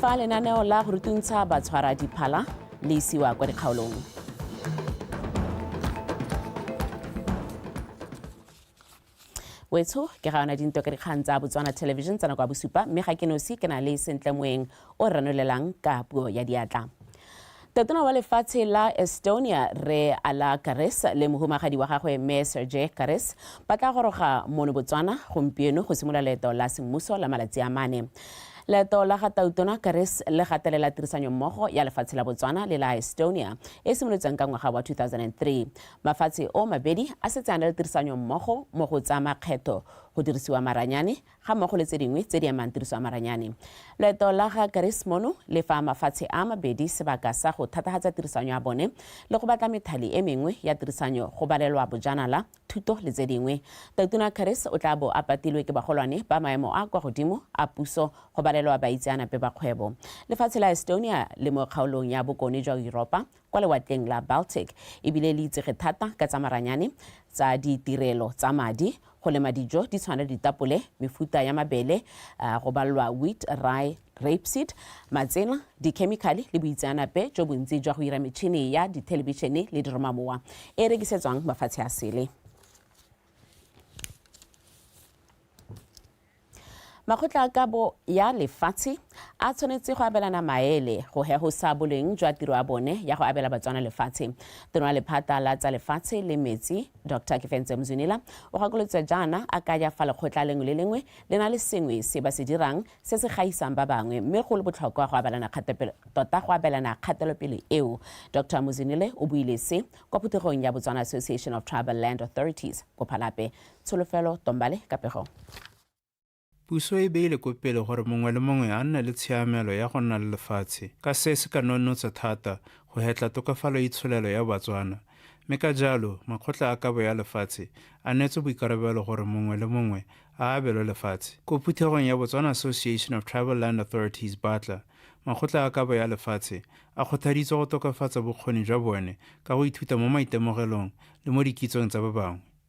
fa lenaneo la go rutuntsha batshwara diphala le isiwa kwa dikgaolong wetsho ke ga yona dinto ka dikgang tsa botswana television tsa nako ya bosupa mme ga ke nosi ke na le sentle moeng o ranolelang ka puo ya diatla. Tatona wa lefatshe la Estonia, Rre Ala Karis le mohumagadi wa gagwe Mme Sergei Karis ba tla goroga mono Botswana gompieno go simolola leeto la semmuso la malatsi a mane. Leeto la ga Tautona Karis le gatelela tirisanyo mmogo ya lefatshe la Botswana le la Estonia e simolotsweng ka ngwaga wa 2003. Mafatshe o mabedi a setse a na le tirisanyo mmogo mo go tsa makgetho, go dirisiwa maranyane ga mmogo le tse dingwe tse di amang tiriso ya maranyane. Loeto la ga Karis mono le fa mafatshe a mabedi sebaka sa go thatagatsa tirisanyo ya bone le go batla methali e mengwe ya tirisanyo go balelwa bojanala, thuto le tse dingwe. Totona Karis o tla bo a patilwe ke bagolwane ba maemo a kwa godimo a puso go balelwa baitseanape ba kgwebo. Lefatshe la Estonia le mo kgaolong ya bokone jwa Yuropa kwa Lewatleng la Baltic e bile le itsege thata ka tsa maranyane, tsa ditirelo tsa madi, go lema dijo di tshwana le ditapole, mefuta ya mabele, go balwa wheat, rye, rapeseed, matsela, dikhemikhale le boitseanape jo bontsi jwa go ira metšhini ya dithelebishene le diromamowa e e rekisetswang mafatshe a sele. Makgotla a kabo ya lefatshe a tshwanetse go abelana maele go hegosa boleng jwa tiro ya bone ya go abela Batswana lefatshe. Tono ya lephata la tsa lefatshe le metsi, Dr Kefense Mzwinila, o gakolotse jaana a kaya fa lekgotla lengwe le lengwe le na le sengwe se ba se dirang se se gaisang ba bangwe mme go le botlhokwa go abelana tota go abelana kgatelopele eo. Dr Muzwinile o buile se kwa phuthegong ya Botswana Association of Tribal Land Authorities, Kophalape, Tsholofelo Tombale, Kapegong. Puso e beile ko pele gore mongwe le mongwe a nne le tshiamelo ya go nna le lefatshe, ka se se ka nonnotsa thata go hetla tokafalo ya itsholelo ya Batswana, mme ka jalo makgotla a kabo ya lefatshe a neetswe boikarabelo gore mongwe le mongwe a abelwe lefatshe. Ko phuthegong ya Botswana Association of Tribal Land Authorities, Batla, makgotla a kabo ya lefatshe a kgothaditswe go tokafatsa bokgoni jwa bone ka go ithuta mo maitemogelong le mo dikitsong tsa ba bangwe.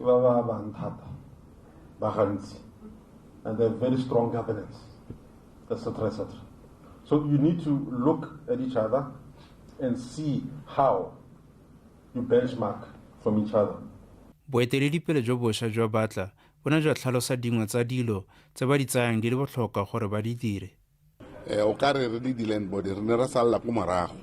ba ba bang thata ba gantsi and they have very strong governance etc etc so you need to look at each other and see how you benchmark from each other boeteledipele jo bosha jwa batla bo ne jwa tlhalosa dingwe tsa dilo tse ba di tsayang di le botlhokwa gore ba di dire Eh, o ka re re le di-land body re ne re salela ko morago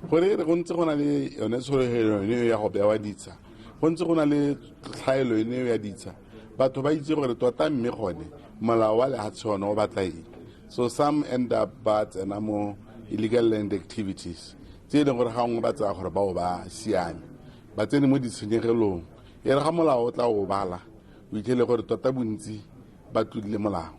gore e re go ntse go na le yone tshologelo ene eo ya go bewa ditsha go ntse go na le tlhaelo ene eo ya ditsha batho ba itse gore tota mme gone molao wa lehatshe one o batla eng so some end up ba tsena mo illegal land activities tse e leng gore gangwe ba tsaya gore bao ba siame ba tsene mo ditshenyegelong e re ga molao o tla o bala o itlhele gore tota bontsi ba tlodile molao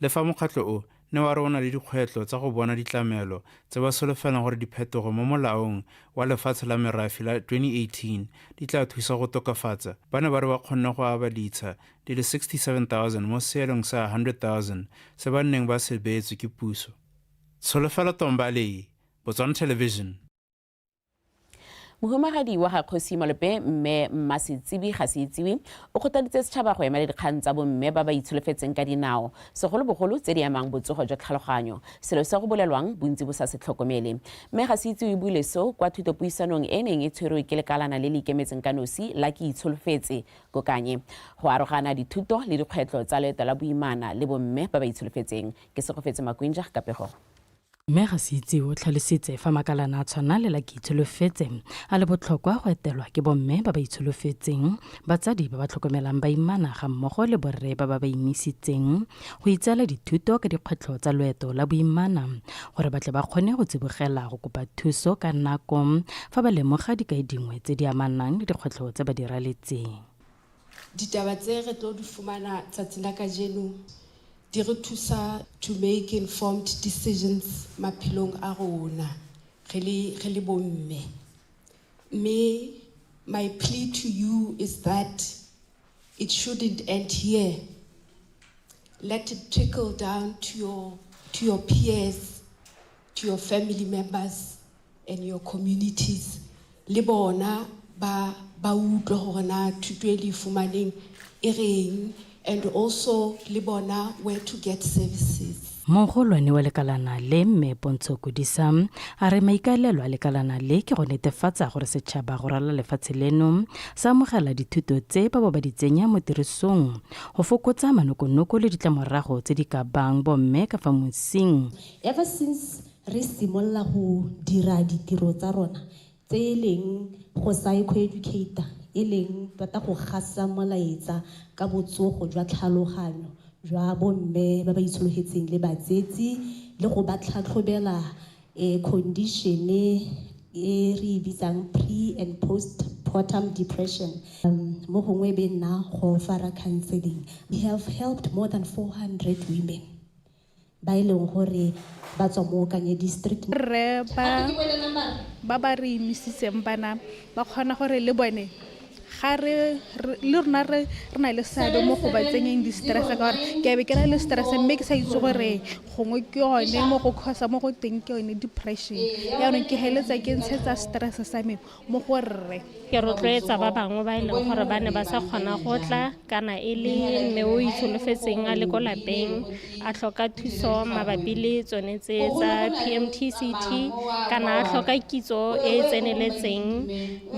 Le fa mokgatlho o ne wa re o na le dikgwetlho tsa go bona ditlamelo tse ba solofelang gore diphetogo mo Molaong wa Lefatshe la Merafe la 2018 di tla thusa go tokafatsa, ba ne ba re ba kgonne go aba ditsha di le 67,000 mo seelong sa 100,000 se ba nneng ba se beetswe ke puso. Tsholofelo Tombale, Botswana Television. mohumagadi wa ga kgosi malope mme mmasetsibi ga se itsiwe o kgotaditse setšhaba go emela dikgang tsa bomme ba ba itsholofetseng ka dinao segolobogolo tse di amang botsogo jwa tlhaloganyo selo se go bolelwang bontsi bo sa se tlhokomele mme ga se itsiwe buile so kwa thutopuisanong e neng e tshwerwe ke lekalana le le ikemetseng ka nosi la ke itsholofetse kokanye go arogana dithuto le dikgwetlho tsa leeto la boimana le bomme ba ba itsholofetseng ke segofetse makwinja ka pego Mme Gasitsi o tlhalositse fa makalana a tshwana le la Keitsholofetse a le botlhokwa go etelwa ke bomme ba ba itsholofetseng, batsadi ba ba tlhokomelang baimana ga mmogo le borre ba ba ba imisitseng go itseela dithuto ka dikgwetlho tsa loeto la boimana gore ba tle ba kgone go tsibogela go kopa thuso ka nako fa ba lemoga dikai dingwe tse di amanang le dikgwetlho tse ba di raletseng. Ditaba tse re tlo di fumana tsatsing la kajeno di re thusa to make informed decisions maphelong a rona re le re le bomme. Mme my plea to you is that it shouldn't end here. Let it trickle down to your to your peers. to your family members and your communities le bona ba ba utlwa gore na thuto e le fumaneng e reng and also le bona where to get services mogolwane wa lekalana le mme pontsho kodisa a re maikaelelo a lekalana le ke go netefatsa gore setšhaba go rala lefatshe leno sa amogela dithuto tse ba bo ba di tsenya mo tirisong go fokotsa manokonoko le ditlamorago tse di ka bang bomme ka fa mosing Ever since re simolola go dira ditiro tsa rona tse e leng go psycho-educata e leng tota go gasa molaetsa ka botsogo jwa tlhaloganyo jwa bomme ba ba itshologetseng le batsetsi le go ba tlhatlhobela um condition e re e bitsang pre and post partum depression mo gongwe e be nna go fara counseling. We have helped more than 400 women. ba e leng gore ba tswa mo Kanye District. Rre ba ba ba re imisitseng bana ba kgona gore le bone ga re le rona re re na le seabe mo go ba tsenyeng di-stress ka gore ke be ke na le stress mme ke sa itse gore gongwe ke yone mo go causa mo go teng ke yone depression yaanong ke heletsa ke ntshetsa stress sa me mo go rre ke rotloetsa ba bangwe ba e leng gore ba ne ba sa kgona go tla kana e le mme o itsholofetseng a le ko lapeng a tlhoka thuso mabapi le tsone tse tsa PMTCT kana a tlhoka kitso e e tseneletseng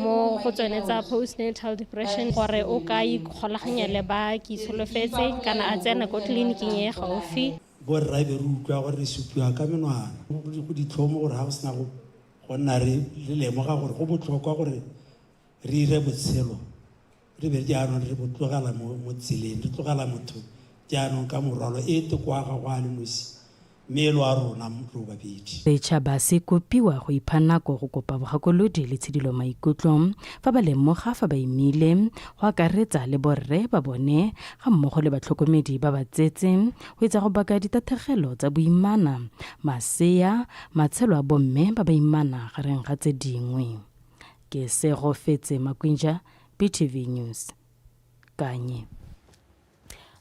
mo go tsone tsa postnatal depression gore o ka ikgolaganya le ba ke itsholofetse kana a tsena ko tleliniking e gaufi borra be re utlwa gore re supiwa ka menwana go ditlhomo gore ga go sena go go nna re le lemoga gore go botlhokwa gore re ire botshelo re be jaanong re botlogela mo tseleng re tlogela motho jaanong ka morwalo e te kwa ga go a le nosi mme e lo a rona lo babedi setšhaba se kopiwa go ipha nako go kopa bogakolodi le tshedilo maikutlo fa ba lemoga fa ba imile go akaretsa le borre ba bone ga mmogo le batlhokomedi ba ba tsetse go etsa go baka ditathegelo tsa boimana masea Matshelo a bomme ba baimana gareng ga tse dingwe. Ke se go fetse Makwinja, BTV News, Kanye.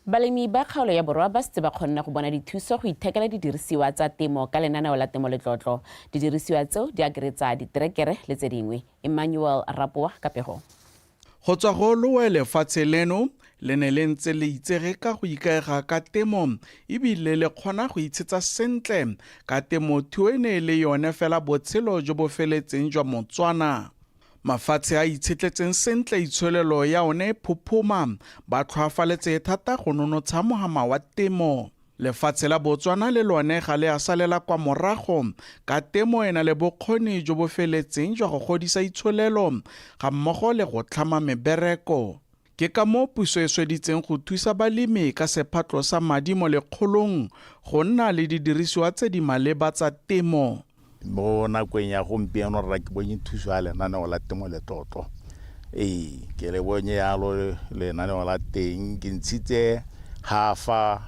Balemi ba kgaolo ya borwa ba setse ba kgonne go bona dithuso go ithekela didirisiwa tsa temo ka lenaneo la Temo Letlotlo. Didirisiwa tseo di akaretsa diterekere le tse dingwe. Emmanuel Rapoa ka pego. Go tswa go loe lefatshe leno le ne le ntse le itsege ka go ikaega ka temo e bile le kgona go itshetsa sentle ka temothuo e ne e le yone fela botshelo jo bo feletseng jwa Motswana. Mafatshe a itshetletseng sentle itsholelo ya one e phophoma, ba tlhoafaletse thata go nonotsha mohama wa temo. Lefatshe la Botswana le lone ga le a salela kwa morago ka temo e na le bokgoni jo bo feletseng jwa go godisa itsholelo ga mmogo le go tlhama mebereko. Ke ka moo puso e sweditseng go thusa balemi ka sephatlo sa madi mo lekgolong go nna le didirisiwa tse di maleba tsa temo. Mo nakong ya gompieno rra ke bonye thuso ya lenaneo la temo le tlotlo. Ee, ke le bonye yalo lenaneo la teng ke ntshitse hafa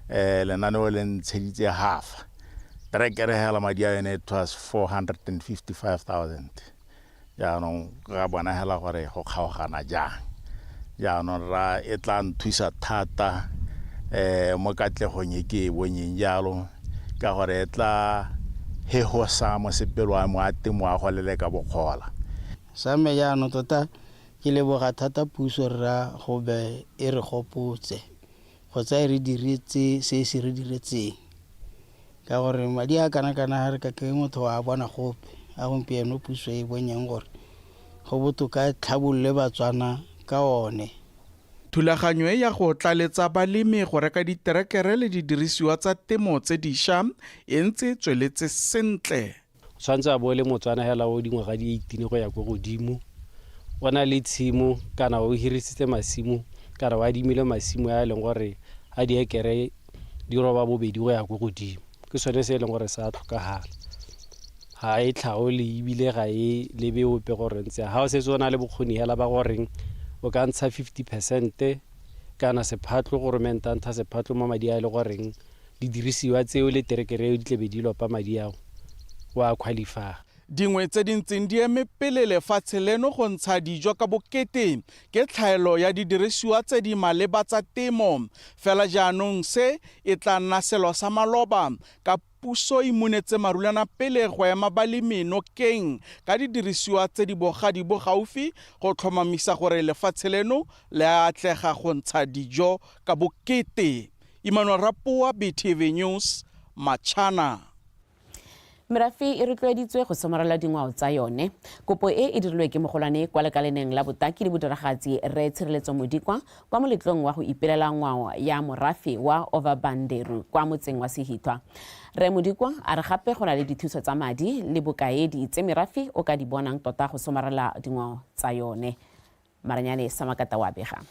eh lenaneo le ntsheditse hafa. Trekere hela madi a yone it was 455,000. Jaanong ra bona hela gore go kgaogana jang. Jaanong ra e tla nthusa thata um mo katlegong e ke e bonyeng jalo ka gore e tla hegosa mosepelo wa mo a temo wa go leleka bokgola. Sa me jaanong tota ke leboga thata puso rra go be e re gopotse. kgotsa e re diretse se se re diretseng ka gore madi a kana-kana ga re ka ke motho wa bona gope a gompieno puso e bonyeng gore go botoka e tlhabolole batswana ka one Thulaganyo e ya go tlaletsa balemi go reka diterekere le didirisiwa tsa temo tse disha e ntse tsweletse sentle. O tshwanetse a bo le Motswana hela o dingwaga di 18 go ya ko godimo. O na le tshimo kana o hirisitse masimo kana o adimile masimo a e leng gore a diekere di roba bobedi go ya ko godimo. Ke sone se e leng gore sa tlhokagala. Ga e tlhaole ebile ga e lebe ope gore ntse ga o setse o na le bokgoni hela ba goreng o ka ntsha 50 percent kana sephatlo gore mente a ntsha sephatlo mo madi a e le goreng Didirisiwa tseo le terekere eo di tla be di lopa madi ao, o a qualify-a. Dingwe tse di ntseng di eme pele lefatshe leno go ntsha dijo ka bokete ke tlhaelo ya didirisiwa tse di maleba tsa temo. Fela jaanong se e tla nna selo sa maloba ka puso e munetse marulana pele go ema balemi nokeng ka didirisiwa tse di bogadi bo gaufi go tlhomamisa gore lefatshe leno le a atlega go ntsha dijo ka bokete. Imanwa Rapoa, BTV News, Matshana. Merafe e rotloeditswe go somarela dingwao tsa yone. Kopo e e dirilwe ke mogolwane kwa lekaleneng la botaki le bodiragatsi Rre Tshireletso Modikwa kwa moletlong wa go ipelela ngwao ya morafe wa Ovabanderu kwa motseng wa Sehithwa. Rre Modikwa a re gape go na le dithuso tsa madi le bokaedi tse merafe o ka di bonang tota go somarela dingwao tsa yone. Maranyane Samakata wa bega.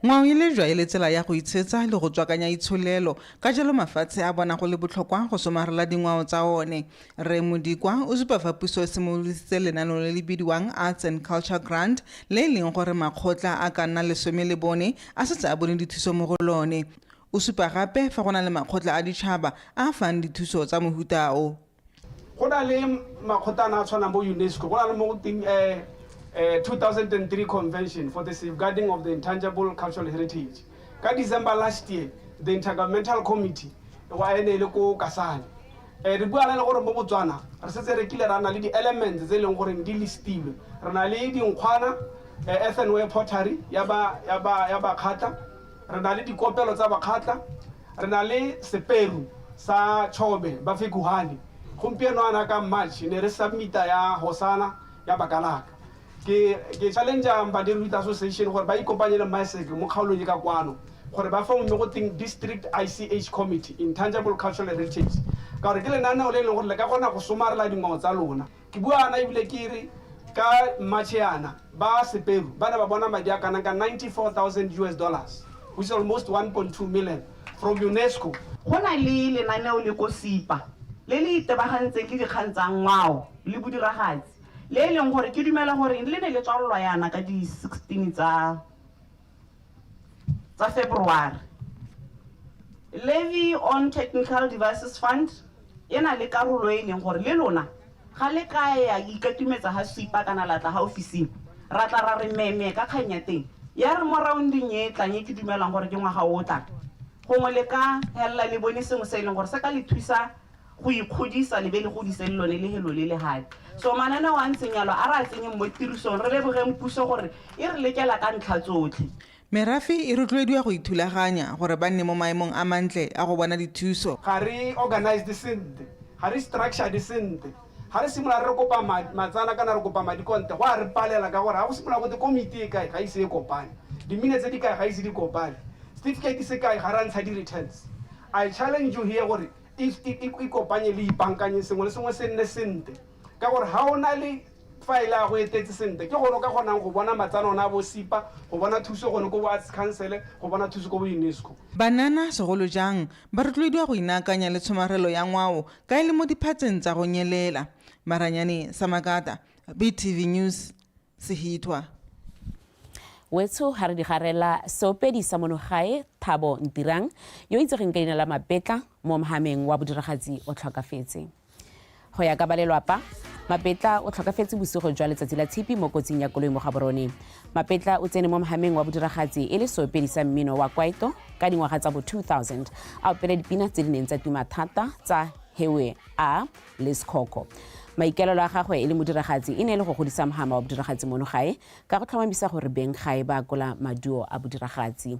Ngwao e lejwa e le tsela ya go itshetsa le go tswakanya itsholelo, ka jalo mafatshe a bona go le botlhokwa go somarela dingwao tsa one. Rre Modikwa o supa fa puso e simololositse lenaneo le le bidiwang Arts and Culture Grant le e leng gore makgotla a ka nna lesome le bone a setse a bone dithuso mo go lone. O supa gape fa go na le makgotla a ditšhaba a a fang dithuso tsa mohuta o. go na le makgotana a tshwanang bo unesco go na le mo go teng um 2003 convention for the safeguarding of the intangible cultural heritage ka december last year the intergovernmental committee wa ene e le ko kasane um re buana le gore mo botswana re setse re kile ra na le di-elements tse e leng goreng di listilwe re na le dinkgwana um ethanway pottery ya bakgatla Re na le dikopelo tsa Bakgatla, re na le seperu sa Chobe ba Fekuhane. Gompieno ana ka March ne re submita ya Hosana ya Bakalaka. Ke ke challenge Mbadeli Youth Association gore ba ikopanye le Maeseke mo kgaolong e ka kwano gore ba fome go teng District ICH Committee, Intangible Cultural Heritage. Ka gore ke lenaneo le e leng gore le ka kgona go somarela dingwao tsa lona. Ke bua ana ebile ke re ka March yana ba Seperu ba ne ba bona madi a kanang ka 94,000 US dollars, which is almost 1.2 million, from UNESCO. Go na le lenaneo le ko SIPA le le itebagantseng le dikgang tsa ngwao le bodiragatsi, le e leng gore ke dumela gore le ne le tswalolwa yana ka di 16 tsa. tsa February. Levy on Technical Devices Fund e na le karolo e leng gore le lona ga le ka ya ikatumetsa ga supa kana la tla ga ofising ra tla ra re meme ka kgang ya teng ya re mo rounding e tlang e ke dumelang gore ke ngwaga o tlang gongwe le ka helela le bone sengwe se e leng gore se ka le thusa go ikgodisa le be le godise le lone lehelo le lehadi. So mananeo a ntseng yalo a re a tsenyeng mo tirisong, re lebogeng puso gore e re lekela ka ntlha tsotlhe. Merafe e rotloediwa go ithulaganya gore ba nne mo maemong a mantle a go bona dithuso. Ga re organized sentle, ga re structured sentle. Ga re simolola re re kopa matsana kana re kopa madi konte, go a re palela ka gore ga go simolola gote komiti e kae ga ise e kopane, diminetse di kae ga ise di kopane, setifikeiti se kae ga re a ntsha di-returns. I challenge you here gore ikopanye le ipankanye sengwe le sengwe se nne sentle ka gore ga o na le faele a go etetse sentle ke gone o ka kgonang go bona matsana one a bosipa go bona thuso gone ko bo arts councele go bona thuso ko bo unesco Banana segolo jang ba rotloediwa go inaakanya le tshomarelo ya ngwao ka e le mo diphatseng tsa go nyelela. Maranyane Samakata, BTV News, Sehithwa. Wetsho ga re di garela seopedi sa mono gae Thabo Ntirang yo itsegeng ka leina la Mapetla mo mhameng wa bodiragatsi o tlhokafetse. Go ya ka ba lelwapa, Mapetla o tlhokafetse bosigo jwa letsatsi la tshipi mo kotsing ya koloi mo Gaborone. Mapetla o tsene mo mhameng wa bodiragatsi e le seopedi sa mmino wa kwaito ka dingwaga tsa bo 2000 a opela dipina tse di neng tsa tuma thata tsa Hewe A, le sekhoko maikaelelo a gagwe e le modiragatsi e ne e le go godisa mohama wa bodiragatsi mono gae ka go tlhomamisa gore beng gae ba akola maduo a bodiragatsi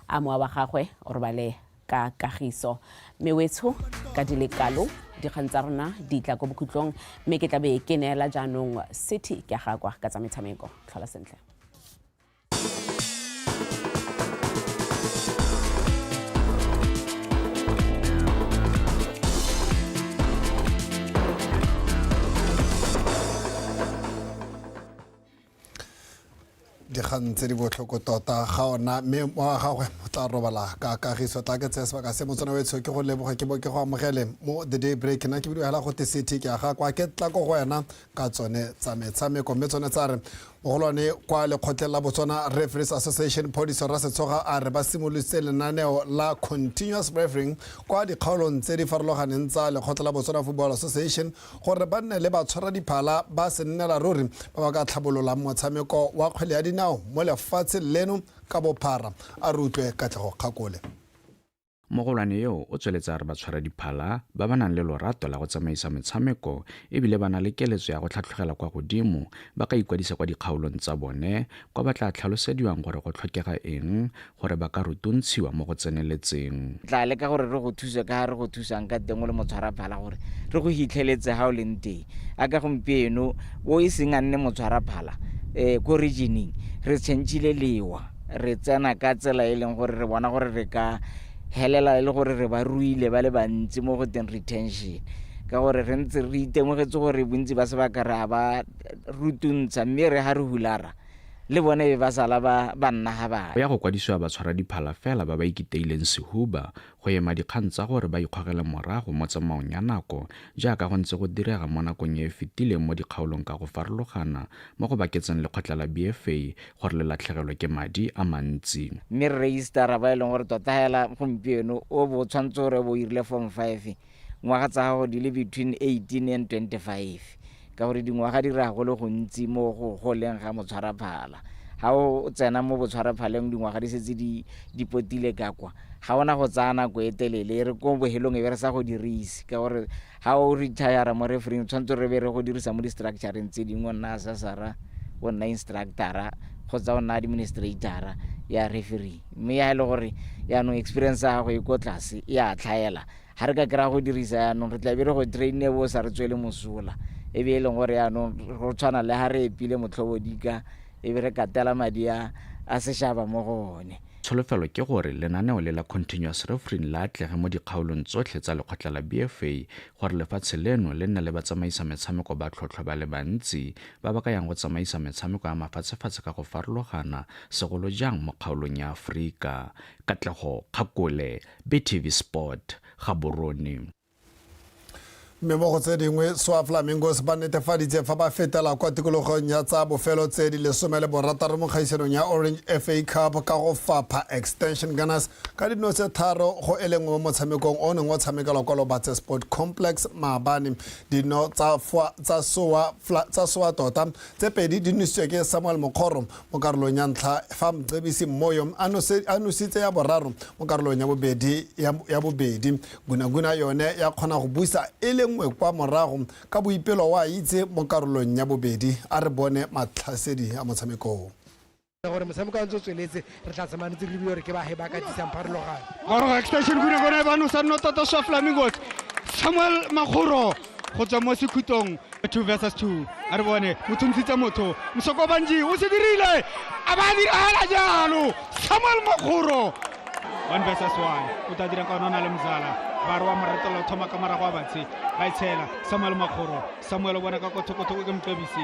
a mowa wa gagwe o robale ka kagiso mme wetsho ka di le kalo dikgang tsa rona di tla ko bokhutlong mme ke tlabe ke neela jaanong city ke gakwa ka tsa metshameko tlhola sentle dikgang tse di botlhoko tota ga ona mme wa gagwe o tla robala ka kagiso tla ke tseye sebaka se motsana wetsho ke go leboga ke bo ke go amogele mo the day break na ke bidiwela go te city ke aga kwa ke tla ko go wena ka tsone tsa metshameko mme tsone tsa re Mogolwane kwa lekgotleng la Botswana Referees Association Phodiso Rasetshoga a re ba simolotse lenaneo la continuous refereeing kwa dikgaolong tse di farologaneng tsa lekgotla la Botswana Football Association gore ba nne le batshwara diphala ba se nnela ruri ba ba ka tlhabololang motshameko wa kgwele ya dinao mo lefatsheng leno ka bophara a re utlwe Katlego Kgakole. Mogolwane yo o tsweletse a re batshwaradiphala ba ba nang le lorato la go tsamaisa metshameko ebile ba na le keletso ya go tlhatlhogela kwa godimo ba ka ikwadisa kwa dikgaolong tsa bone kwa ba tla tlhalosediwang gore go tlhokega eng gore ba ka rutuntshiwa mo go tseneletseng. Re tla leka gore re go thuse ka ga re go thusang ka teng o le motshwaraphala gore re go hitlheletse ga o leng teng. A ka gompieno o e seng a nne motshwaraphala um ko regioneng re changile lewa. re tsena ka tsela e leng gore re bona gore re ka helela e le gore re ba ruile ba le bantsi mo go teng retention ka gore re ntse re itemogetse gore bontsi ba sebaka re a ba rutuntsha mme re ga re hulara le bone be ba sala ba nna ga bana go ya go kwadisiwa batshwara diphala fela ba ba ikiteileng sehuba go ema dikgang tsa gore ba ikgogele morago mo tsamaong ya nako jaaka go ntse go direga mo nakong e e fetileng mo dikgaolong ka go farologana mo go baketseng lekgotla la BFA gore le latlhegelwe ke madi a mantsi. Mme Rre Easter Raba e leng gore tota hela gompieno o bo o tshwanetse gore o bo o irile form five Ngwaga tsa gago di le between 18 and 25 ka gore dingwaga di raya go le gontsi mo go goleng ga motshwaraphala. Ga o tsena mo botshwaraphaleng dingwaga di setse di di potile ka kwa, ga ona go tsaya nako e telele e re ko bohelong e be re sa go dirise ka gore ga o retire mo refereeng tshwanetse re be re go dirisa mo di-structureng tse dingwe o nna assessora o nna instructora kgotsa o nna administratora ya referee mme ya e le gore yaanong experience ya gago e ko tlase e a tlhaela Ga re ka kry-a go dirisa yaanong, re tla be re go drain-ne e be o sa re tswele mosola. E be e leng gore yaanong go tshwana le ga re epile motlhobodika e be re katela madi a a sešaba mo go one. Tsholofelo ke gore lenaneo le la Continuous Refereeing le atlege mo dikgaolong tsotlhe tsa lekgotla la BFA gore lefatshe leno le nne le batsamaisa metshameko ba tlhotlhwa ba le bantsi ba ba ka yang go tsamaisa metshameko ya mafatshefatshe ka go farologana, segolo jang mo kgaolong ya Aforika. Katlego Kgakole. BTV Sport, Gaborone. mme mo go tse dingwe swa flamingos ba netefaditse fa ba fetela kwa tikologong ya tsa bofelo tse di lesome le borataro mo kgaisanong ya orange fa cup ka go fapha extension gunners ka dino tse tharo go e lengwe mo motshamekong o neng o tshamekelwa kwa lobatse sport complex maabane dino tsa soa tota tse pedi di nositswe ke samuel mokgoro mo karolong ya ntlha fa mcebisi mmoyo a nositse ya boraro mo karolong ya bobedi ya bobedi gunaguna yone ya kgona go busa e le nngwe kwa morago ka boipelo wa itse mo karolong ya bobedi a re bone matlhasedi a motshamekong gore motshameko a ntse o tsweletse re tla tsamaya ntse re lebile gore ke bage ba ka disang pharologano extension gunaguna e ba nosa nno tota swa flamingos samuel makgoro go tswa mo sekhutong two versus two a re bone mo thuntshitse motho mosoko banji o se dirile a ba diragala jalo samuel mokgoro one versus one o tla dira kaone o na le mzala ba re wa moretelo thoma ka morago wa batshe ba e tshela samuel makgoro samuel o bona ka kothokotho o ke mpebisi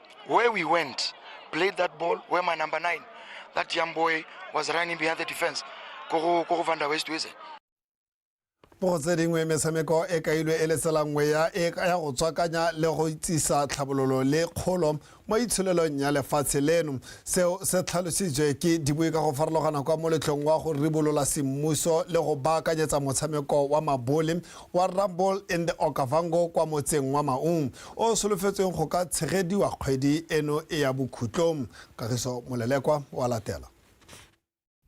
where we went, played that ball, where my number nine, that young boy was running behind the defense. Koro, Koro Van der West, is it? mo tse dingwe metshameko e kailwe e letsela nngwe ya e ya go tswakanya le go itsisa tlhabololo le kgolo mo itsholelong ya lefatshe leno seo se tlhalositswe ke dibui ka go farologana kwa moletlong wa go ribolola semmuso le go baakanyetsa motshameko wa mabole wa rumble in the okavango kwa motseng wa maung o solofetsweng go ka tshegediwa kgwedi eno e ya bokhutlong. Kagiso Molelekwa o a latela.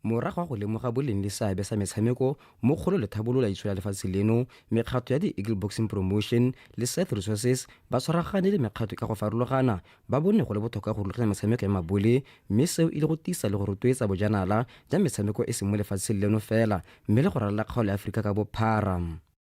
Morago ga go lemoga boleng le seabe sa metshameko mo kgolo le tlhabololaitso ya lefatshe leno, mekgatlho ya The Eagle Boxing Promotion le Seth Resources ba tshwaragane le mekgatlho ka go farologana ba bone go le botlhokwa go rulaganya metshameko ya mabole mme seo e le go tiisa le go rotloetsa bojanala ja metshameko e seng mo lefatsheng leno fela mme le go ralala kgaolo ya Aforika ka bophara.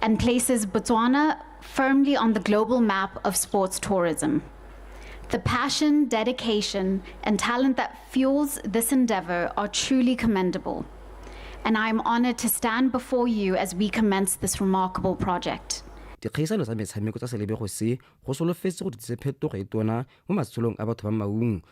and places Botswana firmly on the global map of sports tourism. The passion, dedication, and talent that fuels this endeavor are truly commendable, and I am honored to stand before you as we commence this remarkable project. dikgaisano tsa metshameko tsa selebego se go solofetse go ditsise phetogo e tona mo matshelong a batho ba maung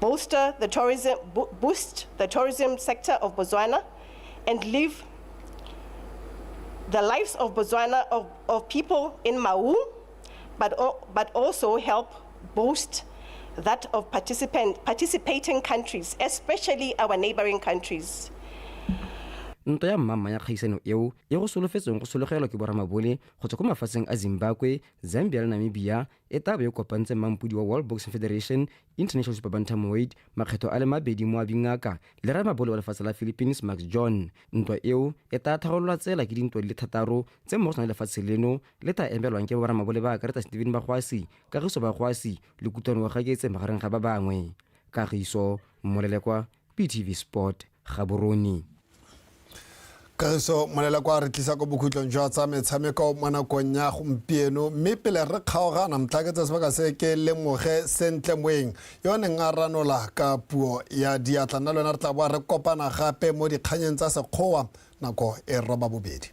bolster the tourism, bo boost the tourism sector of Botswana, and live the lives of Botswana, of, of people in Maun, but, but also help boost that of participant, participating countries, especially our neighboring countries. nto ya mmamma ya kgaisano eo e go solofetsweng go sologelwa ke boramabole go tswa ko mafatsheng a zimbabwe zambia le namibia e tla bo e kopantseng mampodi wa World Boxing Federation, International Super Bantamweight, makgetho a le mabedi moabi ngaka le ramabole wa lefatshe la Philippines Max John. Ntwa eo e tla tharololwa tsela ke dintwa di le thataro tse mo go tsona lefatshe leno le tla emelwang ke boramabole ba akaretsa Stephen Bakgoasi, Kagiso Bakgoasi le Kutlwano Ogakeetse magareng ga ba bangwe. Kagiso Molelekwa. BTV Sport, Gaborone. kagiso molela kwa re tlisa ko bokhutlong jwa tsa metshameko mo nakong ya gompieno mme pele re kgaogana motlhaketsa sebaka se ke lemoge sentle moeng yo neng a ranola ka puo ya diatla nna le wena re tla boa re kopana gape mo dikganyeng tsa sekgowa nako e roba bobedi